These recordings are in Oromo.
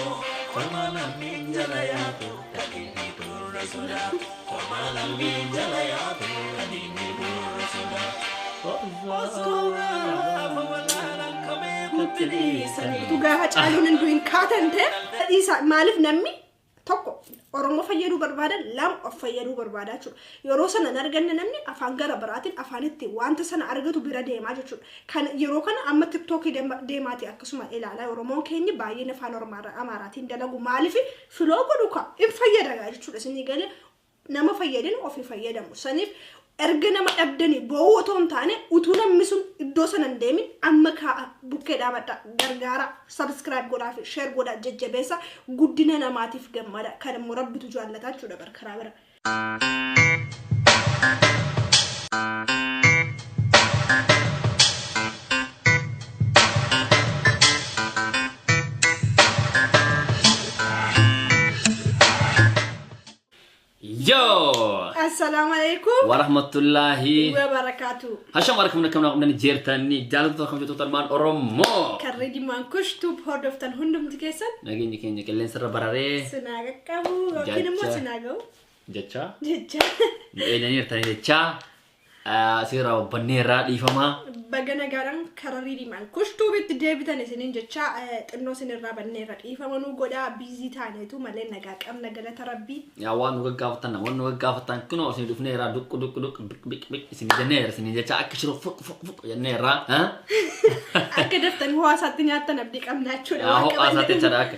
Homaa lammiin jala yaatu ka diinni gurra sodaatu. Homaa lammiin jala yaatu ka diinni gurra sodaatu. Oskoo gaafa walaalan ka beekutti dhiisanii. Dhugaa hacaaluun hunduu hin kaatan ta'e. Dhiisaa maaliif namni tokko Oromoo fayyaduu barbaada lama of fayyaduu barbaada jechuudha. Yeroo sana hin arganne namni afaan gara biraatiin afaan itti wanta sana argatu bira deemaa jechuudha. Kan yeroo kana amma tiktoki deemaati akkasuma ilaala oromoon keenyi baay'een afaan ormaarra amaaraatiin dalagu maaliif filoo godhu ka in fayyada gaa jechuudha isinii galee nama fayyadin ofii fayyadamu saniif erga nama dhabdanii boo'uu otoo hin taane utuu namni sun iddoo sana hin deemin amma kaa'a bukkee dhaabadha gargaara sabiskiraayib godhaa fi sheer godhaa jajjabeessa guddina namaatiif gammada kan immoo rabbitu jaallataa jechuudha bar karaa bira Yoo! Assalaamu alaikum. Warahmatullaahi. Wa barakaatu. Hasham harka mana kamnaa qabdan jeertanii jaalatu akkam jettu talmaan Oromoo. Karri dhimmaan kush tuub hordoftan hundumti keessan Nageenyi keenya qilleensa irra bararee. sinaa Qabu yookiin immoo Jacha. sinaa ga'u. Jechaa. Jecha Nu eenyaniirtanii jechaa. Seeraa hubbanneerraa dhiifamaa. baga nagaadhaan karaa riirimaan kushtuubitti deebitan isiniin jecha eh, xinnoo isinirraa banneerra dhiifama nu godhaa biizii taaneetu malee nagaa qabna galata rabbii. Yaa waan nu gaggaafattan waan nu gaggaafattan kunoo isin dhufneerraa duqqu duqqu duqqu biq biq biq isin jenneera isin jechaa akka shiroo fuq fuq fuq jenneerraa. Akka daftan hawaasaatti nyaattan abdii qabna jechuudha. Yaa waan ho'aa qabanne. isaatti jechaadha akka.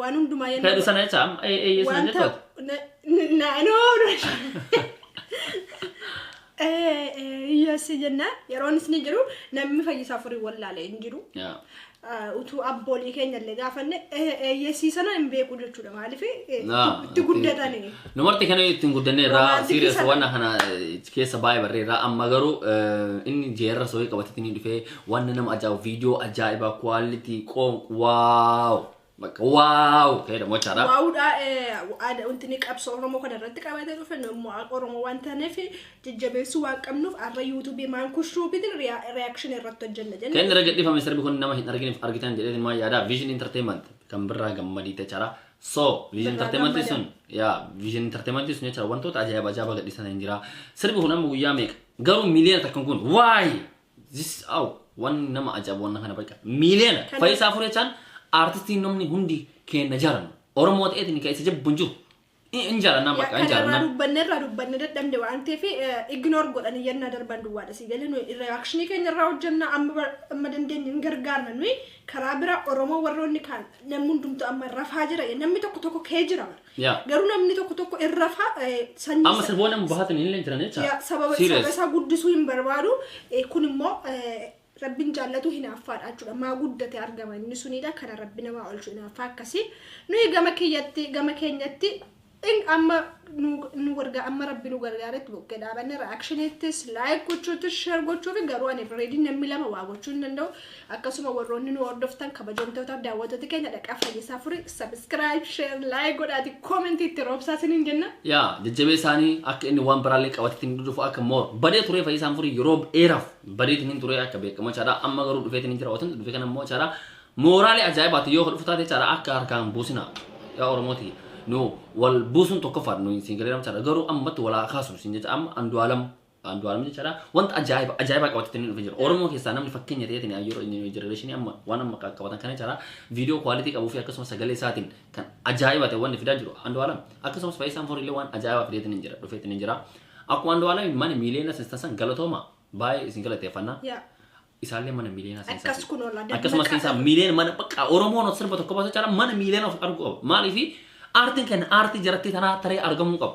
Waan hundumaa yennaa Fedhu sana jecha amma ee- eeyyee sana wanta jettoota. na- na- na- no, no. Eh, eh, yes jenna yeroon isni jiru namni fayyisaa furii wallaale hin jiru Yaa. Ah, utuu abboolii keenya illee gaafanne eh, eh, yesii sana hin beeku jechuudha maaliif eh, Naa, itti guddatani Numarti kana ittiin guddanne irraa Romantic serious sana. waan kana eh, keessa baay'ee barree irraa amma garuu eh, inni jeerra soorii qabatee inni dhufee Wanna nama ajaa'ibu viidiyoo ajaa'ibaa quality qoon waaw bakka waaw ta'edha mochaadha. Waawudhaa aadaa wanti qabsoo Oromoo kana irratti qabatee dhufe nammoo Oromoo waan taaneef jajjabeessuu waan qabnuuf har'a yuutuubii maankush tuubiitiin riyaakshinii irratti hojjenna Kan jennee. irra gadhiifame sirbi kun nama hin argineef argitan jedhee maa yaada Vision Entertainment kan birraa gammadii jechaadha. So Vision Birraa Entertainment gammada. sun yaa Vision Entertainment sun jechaadha wantoota ajaa'iba ajaa'iba gadhiisan hin jira. Sirbi kun amma guyyaa meeqa? Garuu miliyoona takkan kun waayee This aw wan nama ajaa'ib wanna kana baqa miiliyoona Kana- fayisaa furee chaan aartistiin namni hundi keenna jaalannu oromoo ta'eetiin ka isa jabbu hin jiru Hi- hin jaalannaa baqa hin Yakka irraa jaalannaa dubbanne irraa dubbanne dadhabne waan ta'eef ignore godhanii yennaa darban duwwaadha si galee nuyi reakshinii keenya irraa hojjenna amma bar- amma dandeenye hin gargaarna nuyi karaa biraa oromoo warroonni kaan namni hundumtu amma rafaa jira namni tokko tokko kee jira bara. Yaa. Garuu namni tokko tokko irra fa eh, sanyii Amma sirboonni amma bahaatan illee jiran jecha. Ya, sababa saba Serious. isaa guddisuu hin barbaadu Eh, kun immoo eh, rabbiin jaallatu hinaaffaadha jechuudha maa guddate argama inni sunidha kana rabbi namaa olchu hinaaffaa akkasii nuyi gama keeyyatti gama keenyatti in amma nu nu gargaa amma rabbi nu gargaaretti buqqee dhaabanne reactionittis like gochuutis share gochuufi garuu ani reedii namni lama waa gochuu hin danda'u Akkasuma warroonni nu hordoftan kabajamtootaaf daawwattoota keenya dhaqaa fayyisaa furii subscribe share like godhaati comment itti roobsaa siniin jenna. Yaa jajjabee isaanii akka inni waan biraallee qabateetiin dhufu akka moor badee turee fayyisaan furii yeroo dheeraaf badeetiin hin turee akka beekamu chaadhaa amma garuu dhufeetiin hin jira otan dhufe kana immoo chaadhaa mooraalee ajaa'ibaati yoo dhufu taate chaadhaa akka harkaan buusina yaa oromooti nu wal buusuun tokkoffaadha nu siin galeeram chaadhaa garuu ammatti walaa kaasnu siin jecha amma andu'aalam Andu'aalam jechaadha. Wanta ajaa'iba ajaa'ibaa qabatee inni dhufee jira. Oromoo keessaa namni fakkeenya ta'eetiin yeroo inni jenereeshinii amma waan amma qabatan kana jechaadha. Viidiyoo kwaalitii qabuu fi akkasumas sagalee isaatiin kan ajaa'iba ta'e wanni fidaa jiru Andu'aalam. Akkasumas Faayisaan Foor illee waan ajaa'ibaa fideetiin hin jira dhufeetiin hin jira. Akkuma Andu'aalamiin mana miiliyoona seensisan galatooma baay'ee isin galateeffanna. Yaa. Isaallee mana miiliyoona Akkas seensisan. kun oola. Akkasumas seensaa miiliyoona mana bakka Oromoon sirba tokko baasa jechaadha mana miiliyoona of arguu qaba. Maaliif aartiin kenna aartii jarattii tanaa taree argamuu qaba.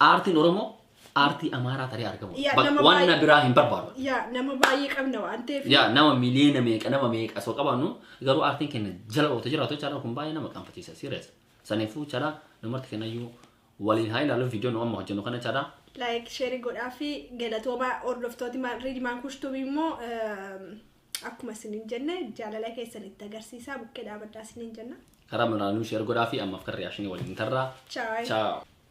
Aartiin Oromoo aartii Amaaraa taree argamu. Yaa, Bak- nama Waan baay'ee- na biraa hin barbaadu. yaa nama baay'ee qabna waan ta'eef Yaa nama miliyoona meeqa nama meeqa osoo qabaannu garuu aartiin keenya jala oota jiraatu chaanaa kun baay'ee nama qaanfachiisa sirees. Saniifuu chaanaa namarti kennayyuu waliin haa ilaalu viidiyoo nu amma hojjennu kana chaanaa like share godhaa fi galatooma hordoftooti riidimaan kushtubii immoo ehm, akkuma isiniin jenne jaalala keessan itti agarsiisaa bukkee dhaabadhaa isiniin jenna. karaa muraanuu sheer godhaa fi ammaaf kan riyaashinii waliin tarraa. Ciao. Ciao.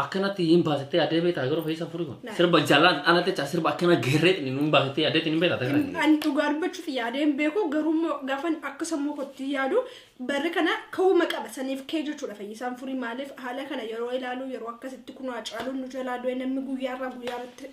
akkanatti hin baasitee yaadee beektaa yeroo fe'iisa furii kun sirba jalaan ala jecha sirba akkana geerree xini hin baasitee yaadee xini hin beektaa ta'e kan Ani dhugaa dubbachuuf yaadee hin beeku garuu immoo gaafan akka sammuu kootti yaadu barri kana ka'uuma qaba saniif kee jechuudha fayyisaan furii maaliif haala kana yeroo ilaalu yeroo akkasitti kunoo hacaaluun nu jalaa du'e namni guyyaarraa guyyaarratti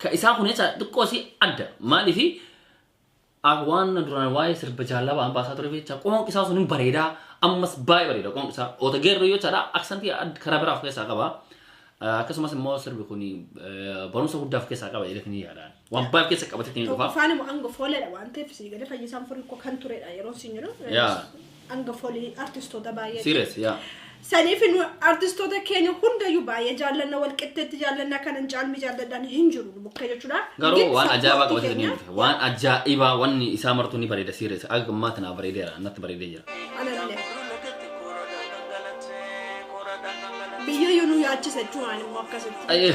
Ka isaa kun jecha xiqqoo si adda. Maaliif waan duraan waa'ee sirba jaallaa ba'an baasaa ture jecha qoonqi isaa sun hin bareeda. Ammas baay'ee bareeda qoonqi isaa. Oota geerroo yoo jedha aksantii karaa biraa of keessaa qaba. Akkasumas immoo sirbi kun barumsa guddaa of keessaa qaba jedhee ni yaadaan. Waan baay'ee of keessa qabatetti ni dhufa. Tokkoffaan immoo hanga fooleedha waan ta'eef sii galee fayyisaan furii koo kan turedha yeroo siin jedhu. Yaa. Anga folii artistoota baay'ee. Serious yaa. Saniif nu artistoota keenya hundayyuu baay'ee jaallanna wal qixxeetti jaallanna kanan caalmi jaalladhaan hin jiru nu bukka jechuudha. Garuu Giddu waan ajaa'ibaa support qabatee ni keenya- mul'isa. Waan ajaa'ibaa wanni isaa martuu ni bareeda serious. Akka ammaa tanaa bareedeera natti bareedee jira. Anallee. Biyya yoo nu yaachisa jechuun immoo akkasitti. Ayyee.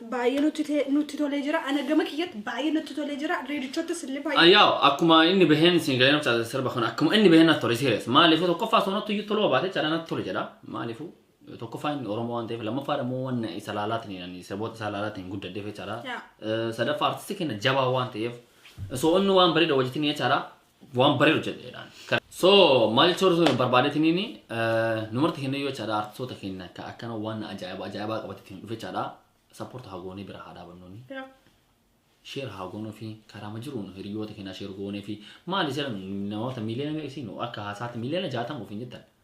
Baay'ee nutti te- nutti tolee jira. Ana gama kiyyatti baay'ee natti tolee jira. Reedichottas illee baay'ee. Ayyaa akkuma inni baheen siin galee nafcaasa sirba kana akkuma inni baheen natti tole serious maaliifuu tokkoffaa osoo natti iyyuu toluu baate jedha natti tole jedha maaliifuu tokkoffaa inni Oromoo waan ta'eef lammaffaa immoo waan isa laalaatiin ani saboota isaa laalaatiin guddaddeef jechaadha Yaa. Eh, sadaffaa artistii keenya jabaa waan ta'eef osoo inni waan bareeda hojjetin jechaadha Waan baree hojjedheedhaan. So maal jecha warra barbaadetiniin numarti kennee yoo jechaadha artistoota keenya akka akkana waan ajaa'ibaa ajaa'ibaa qabateetiin dhufe jechaadha sappoorta haa goonee bira haa dhaabannooni. Sheer haa goonuu fi karaama jiruun hiriyoota keenya sheer goonee fi maali seera namoota miiliyoona meeqsiinu akka haasaatti miiliyoona jaatama ofiin jettan.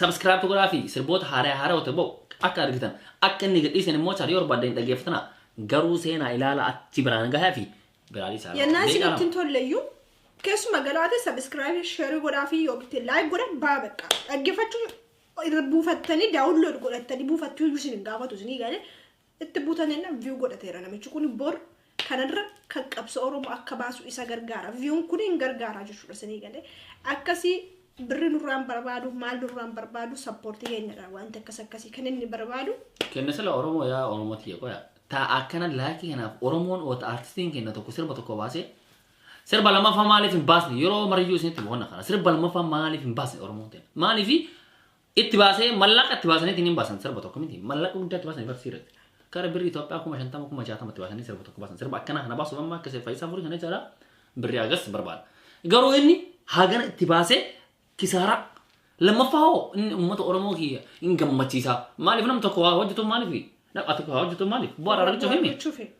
Subscribe godhaa fi sirboota haaraya haarawote ba'u akka argitan akka inni gadhiisen immoo char yoo barbaaddan hin dhaggeeffatana garuu seenaa ilaala achi biraan gahaa fi biraa dhiisaa Yennaa isin ittiin tolleyyuu keessuma galaate sabiskiraabii sheerii godhaa fi yoo bitte laayik godha baa bakka dhaggeeffachuu irra buufattanii daawunlood godhattanii buufattuu iyyuu isin hin gaafatu isinii galee Itti butan enna view godhateera namichi kun bor kana irra kan qabsa oromo akka baasu isa gargaara viewn kun hin gargaaraa jechuudha isinii galee akkasi birri nurraan barbaadu maal nurraan barbaadu sappoorti keenyadha wanti akkas akkasii kan inni barbaadu Kenna sila Oromoo yaa Oromoo tiyya qoya. Ta akkana laakii kanaaf Oromoon wata artistiin kenna tokko sirba tokko baasee sirba lammaffaa maaliif hin baasne yeroo mariyyuu isinitti boqonna kana sirba lammaffaa maaliif hin baasne Oromoon kenna maaliif Itti baasee mallaqa itti baasaniitiin hin baasan sirba tokko miti. Mallaqa guddaa itti baasan ifarsii irratti. Kara birrii Itoophiyaa kuma shantama kuma jaatama itti baasanii sirba tokko baasan. Sirba akkanaa kana baasuuf amma akka seef fayyisaa furii kana jechaadha. Birrii agas barbaada. Garuu inni hagana itti baasee kisaaraa. Lammaffaa hoo inni uummata Oromoo kiyya hin gammachiisaa. Maaliif nam tokko waa hojjetu maaliif? Nam ati waa hojjetu maaliif? Bu'aa irraa argachuuf himi. Argachuufi.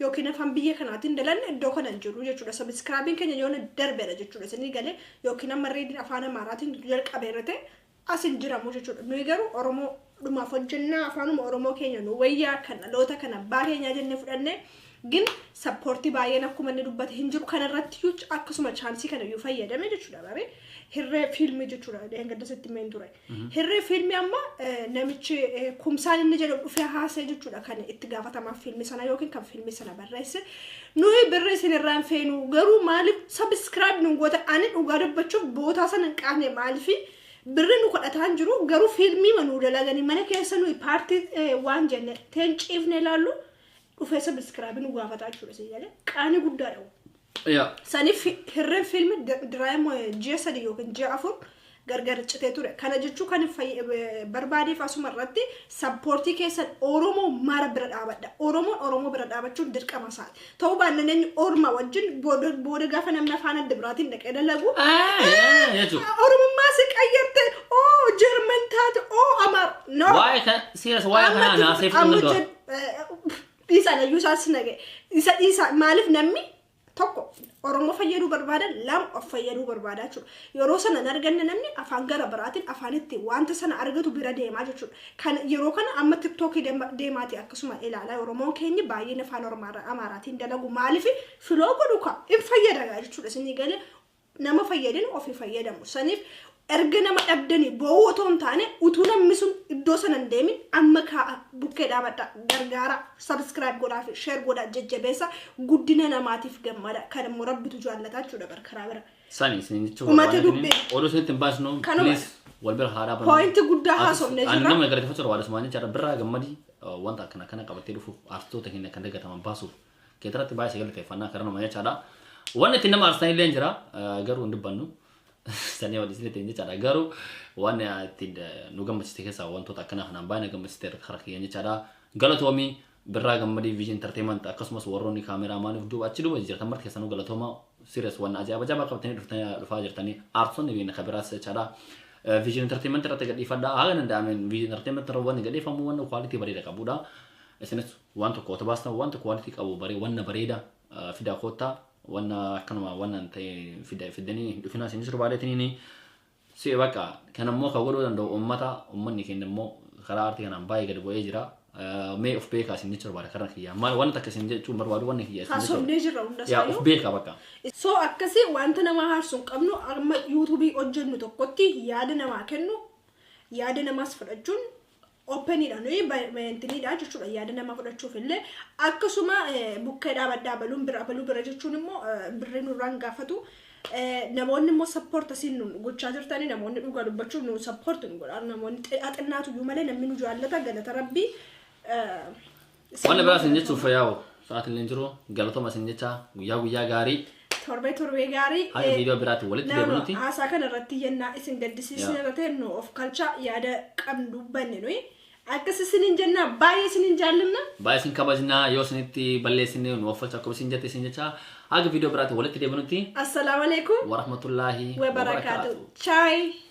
yookiin afaan biyya kanaatiin dalanne iddoo kana hin jiru jechuudha. Sabiskiraabiin keenya yoona darbedha jechuudha. Isinii galee yookiin amma reediin afaan Amaaraatiin jalqabeera ta'e as hin jiramu jechuudha. Nuyi garuu Oromoo dhumaaf hojjennaa afaanuma Oromoo keenya nu wayyaa kan dhaloota kan abbaa keenyaa jennee fudhannee gin sappoortii baay'een akkuma inni dubbate hin jiru kanarratti iyyuu akkasuma chaansii kana iyyuu fayyadame jechuudha baree hirree fiilmii jechuudha dheengadda sitti meen ture. Hirree fiilmii amma namichi kumsaan inni jedhamu dhufee haasee jechuudha kan itti gaafatamaa fiilmii sana yookiin kan fiilmii sana barreesse. Nuyi birrii isin irraan feenu garuu maaliif sabiskiraayib nu goota ani dhugaa dubbachuuf bootaa sana hin qaanne maaliifi birri nu kadhataan jiru garuu fiilmii ma nu dalaganii mana keessa nuyi paartii waan jenne teen ciifne ilaallu dhufee sabiskiraayib nu gaafataa jechuudha si jedhe qaanii guddaadha. Yaa. Saniif fi- hirreen fiilmi diraayim ji'a sadi yookiin ji'a afur gargar citee ture. Kana jechuu kan hin fayy- eh, barbaadeef asuma irratti sappoortii keessan Oromoo mara bira dhaabadha. Oromoon Oromoo bira dhaabachuun dirqama isaati. Ta'uu baannaan eenyu orma wajjin booda booda gaafa namni afaan adda biraatiin dhaqee dalagu jechuudha. Oromummaa si qayyarte oo Jarman taate oo Amaar. No. Waa'ee kan siras waa'ee kanaa naasee fudhuu danda'u. Dhiisa layyuu isaas naga'e. Isa dhiisa maaliif namni tokko Oromoo fayyaduu barbaada lama of fayyaduu barbaada jechuudha. Yeroo sana hin arganne namni afaan gara biraatiin afaan itti wanta sana argatu bira deemaa jechuudha. Kan yeroo kana amma tiktookii deemaati akkasuma ilaalaa Oromoon keenya baay'een afaan Amaaraatiin dalagu maaliif filoo godhu kaa hin fayyada jechuudha isinii galee nama fayyadin ofi fayyadamu sanif erga nama dhabdanii boo'uu otoo hin taane utuu namni sun iddoo sana hin deemin amma kaa'a bukkee dhaabadha gargaara subscribe godhaa fi share godhaa jajjabeessa guddina namaatiif gammada kan immoo rabbitu jaallataa jechuudha bar karaa bira Sani isin jechuun Uummata barbaadne dubbii. kuni oduu isinitti hin baasnu Kanuma. please wal bira haaraa bannu. Point guddaa Artist- haasofne ani jirra. nama galateeffachuu barbaadu Usmaan jechaadha birraa gammadii uh, wanta akkana kana qabattee dhufuuf artistoota keenya kan dagataman baasuuf keetirratti baay'ee galateeffannaa karaa nama jechaadha. Wanni itti nama aarsan illee jira garuu hin dubbannu. Sanii wal isinitti hin jechaadha garuu waan itti nu gammachiiste keessaa wantoota akkanaa kanaan baay'ee na gammachiiste irratti harka kiyyan jechaadha. Galatoomii birraa gammadii viizhin entertainment akkasumas warroonni kaameraa maaliif duuba achi duuba jirtan marti keessanuu galatooma sirius waan ajaa'iba jabaa qabatanii dhuftanii dhufaa jirtanii aartonni biyya kabiraas jechaadha. Viizhin entertainment irratti gadhiifadha haala danda'ameen viizhin entertainment irra wanni gadhiifamu wanna kwaalitii bareeda qabudha. Isinis Waan tokko wata baastan wanta quality qabu bare wanna bareeda ah, fidaa koottaa wanna akkanuma wanna hin ta'e fida- fiddanii hin dhufinaa isin sirba adeetiniini si bakka kan immoo kan godhuu danda'u uummata uummanni keenya immoo karaa aartii kanaan baay'ee gad bu'ee jira Ah, mee of beekaa isin jechuun barbaada karaa kiyyaa maal wanna takka isin jechuun barbaadu wanni kiyya isin Haa jechuun sobnee jirra hunda yaa of isaayyuu. beekaa bakka So akkasii wanta nama haarsu hin qabnu amma yuutuubii hojjennu tokkotti yaada namaa kennu yaada namaas fudhachuun openidha nuyi bayintinidha jechuudha yaada nama fudhachuuf illee akkasuma bukkee dhaabadhaa baluun bira baluu bira jechuun immoo birri nurraan gaafatu namoonni immoo sappoort asiin nu gochaa jirtanii namoonni dhugaa dubbachuu nu sappoort nu godhaa namoonni xinnaatu iyyuu malee namni nu jaallata galata rabbii Wanna biraa isin jechuuf fayyaa'u sa'aatiin hin jiru galatoma isin jecha guyyaa guyyaa gaarii Torbee torbee gaarii. haga eh, viidiyoo biraatiin walitti Nama deebinutti haasaa kana irratti yennaa isin gaddisiisne Yaa. irra ta'e nu of kalchaa yaada qabnu dubbanne nuyi. Akkas isiniin jennaa baay'ee isiniin jaallanna. baay'ee isin kabajnaa yoo isinitti balleessine nu offolcha akkuma isin jette isin jecha haga viidiyoo biraatiin walitti deebinutti Assalaamu alaikum. warahmatullaahi wa barakaatu. Chaayi.